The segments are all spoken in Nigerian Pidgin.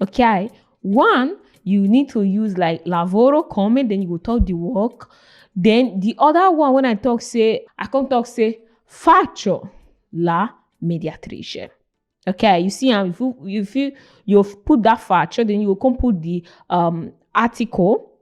Okay, one you need to use like lavoro come and then you go talk the work. Then the other one when I talk say I come talk say faccio la mediatrice. Okay, you see, um, if you if you you've put that faccio, then you will come put the um article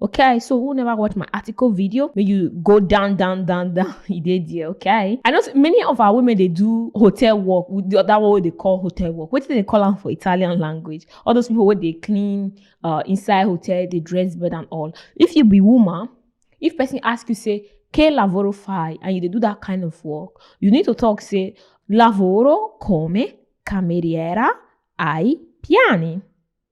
okay so who never watched my article video may you go down down down down he did yeah okay i know many of our women they do hotel work the other one they call hotel work what do they call them for italian language all those people where they clean uh, inside hotel they dress better and all if you be woman if person ask you say che lavoro fai and you they do that kind of work you need to talk say lavoro come cameriera ai piani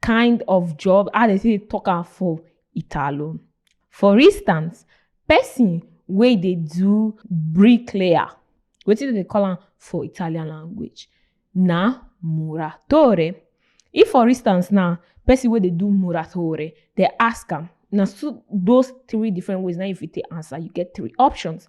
kind of job how they say talk am for italo for instance person wey dey do bricklayer wetin dem dey call am for italian language na muratore if for instance now person wey dey do muratore dey ask am na so those three different ways na you fit take answer you get three options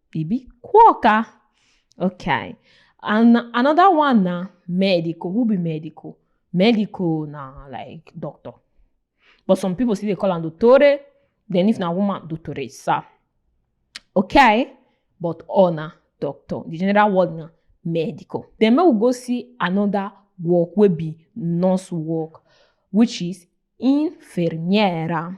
Bibi Quokka. Okay. And another one na medical. Who be medical? Medical na like doctor. But some people still dey call am dottore. Then if na woman, dottoressa. Okay? But all na doctor. The general word na medical. Then make we go see another work wey be nurse work, which is infermiera.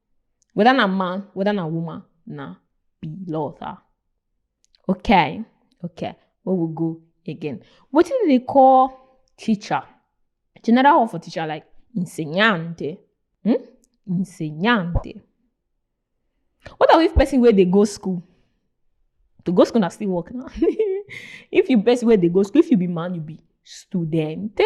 Whether na man, whether na woman, na pilota. Okay, okay. We will go again. What do they call teacher? General word for teacher like insegnante. Hmm? Insegnante. What are if person where they go school? To go school na still work now. if you person where they go school, if you be man, you be studente.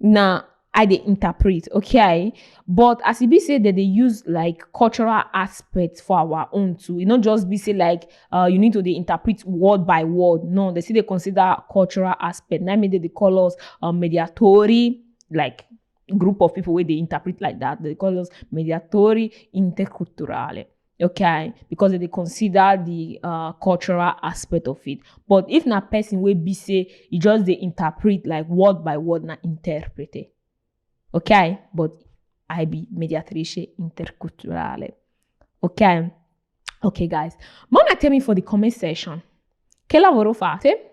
na i dey interpret okay but as e be say dem dey use like cultural aspect for our own too e no just be say like uh, you need to dey interpret word by word no they still dey consider cultural aspect na im make dem dey call us um, mediatori like group of people wey dey interpret like that they call us mediatori interculturale okay because they consider the uh, cultural aspect of it but if na person will be say you just they interpret like word by word na interpret it okay but i be mediatrice interculturale okay okay guys mama tell me for the comment section che lavoro fate